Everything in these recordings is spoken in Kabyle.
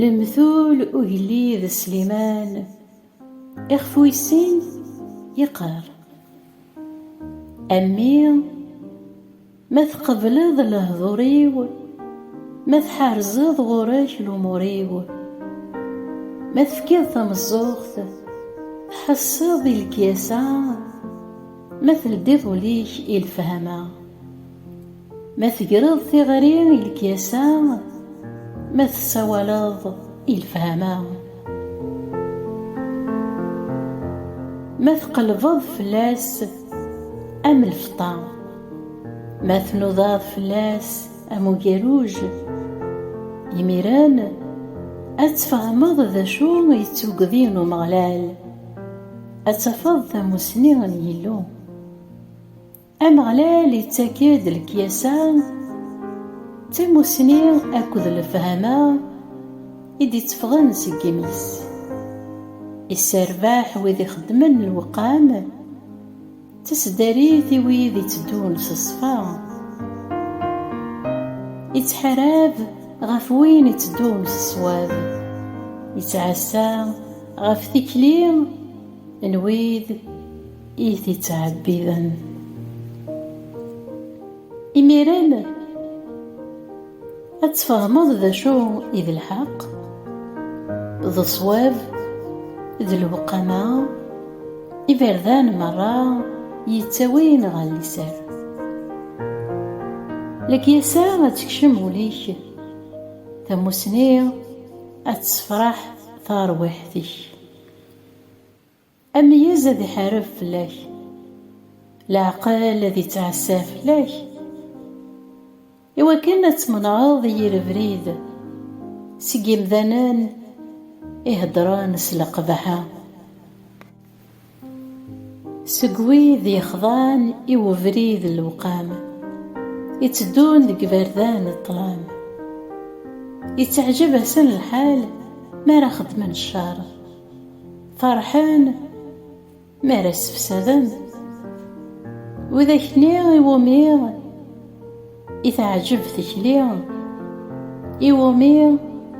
Lemtul ugellid Sliman ixef wis-sin yeqqar A mmi ma tqebleḍ lehdur-iw ma tḥerzeḍ ɣur-k lumur-iw ma tefkiḍ tameẓẓuɣt tḥesseḍ i lekyasa Ma teldiḍ ul-ik i lefhama, ma tegreḍ tiɣri i lekyasa, ma tessawaleḍ i lefhama, ma tqelbeḍ fell-as am lfeṭṭa, ma tnudaḍ fell-as am ugaruj, imiren ad tfehmeḍ d acu i d tugdi n Umeɣlal. Ad tafeḍ tamussni n Yillu. Ameɣlal ittak-d lekyasa d tamussni akked lefhama i d-itteffɣen seg yimi-s. Isserbaḥ wid ixeddmen lewqam. Taseddarit i wid itteddun s ṣṣfa, ittḥarab ɣef win itteddun s ṣṣwab, ittɛassa ɣef tikli n wid i t-ittɛebbiden. Imiren, ad tfehmeḍ d acu i d lḥeqq, d ṣṣwab, d lewqama, iberdan merra yettawin ɣer liser. Lekyasa ad tekcem ul-ik, tamussni ad tessefraḥ tarwiḥt-ik. Ameyyez ad iḥareb fell-ak, leɛqel ad ittɛassa fell-ak, i wakken ad tmenɛeḍ i yir abrid seg yimdanen i heddren s leqbaḥa, seg wid yexḍan i ubrid n lewqam, itteddun deg iberdan n ṭṭlam, itteɛjab-asen lḥal mi ara xeddmen ccer. Ferḥen mi ara ssefsaden widak-nni iwumi i teɛǧeb tikli, iwumi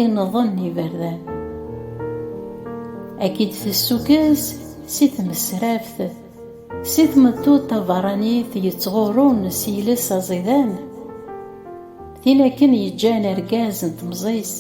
i nḍen iberdan. Ad k-id-tessukkes si tmesraft, si tmeṭṭut taberranit yettɣurrun s yiles aẓidan, tin akken yeǧǧan argaz n temẓi-s,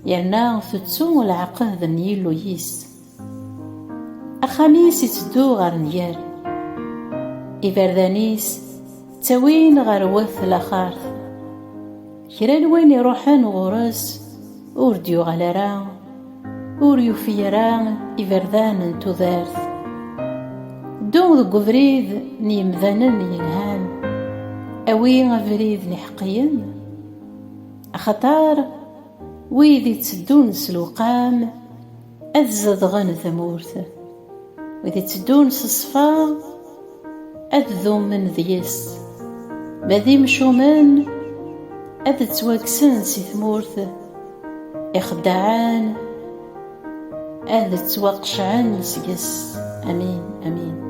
Yerna tettu lɛeqed n Yillu-is. Axxam-is iteddu ɣer nnger. Iberdan-is ttawin ɣer wat laxart. Kra n win iruḥen ɣur-s ur d-yuɣal ara, ur yufi ara iberdan n tudert. Ddu deg ubrid n yemdanen yelhan, awi abrid n iḥeqqiyen, axaṭer, Wid itteddun s lewqam ad zedɣen tmurt, wid itteddun s ṣṣfa ad dumen deg-s, ma d imcumen ad ttwakksen si tmurt, ixeddaɛen ad ttwaqecɛen seg-s. Amin, amin.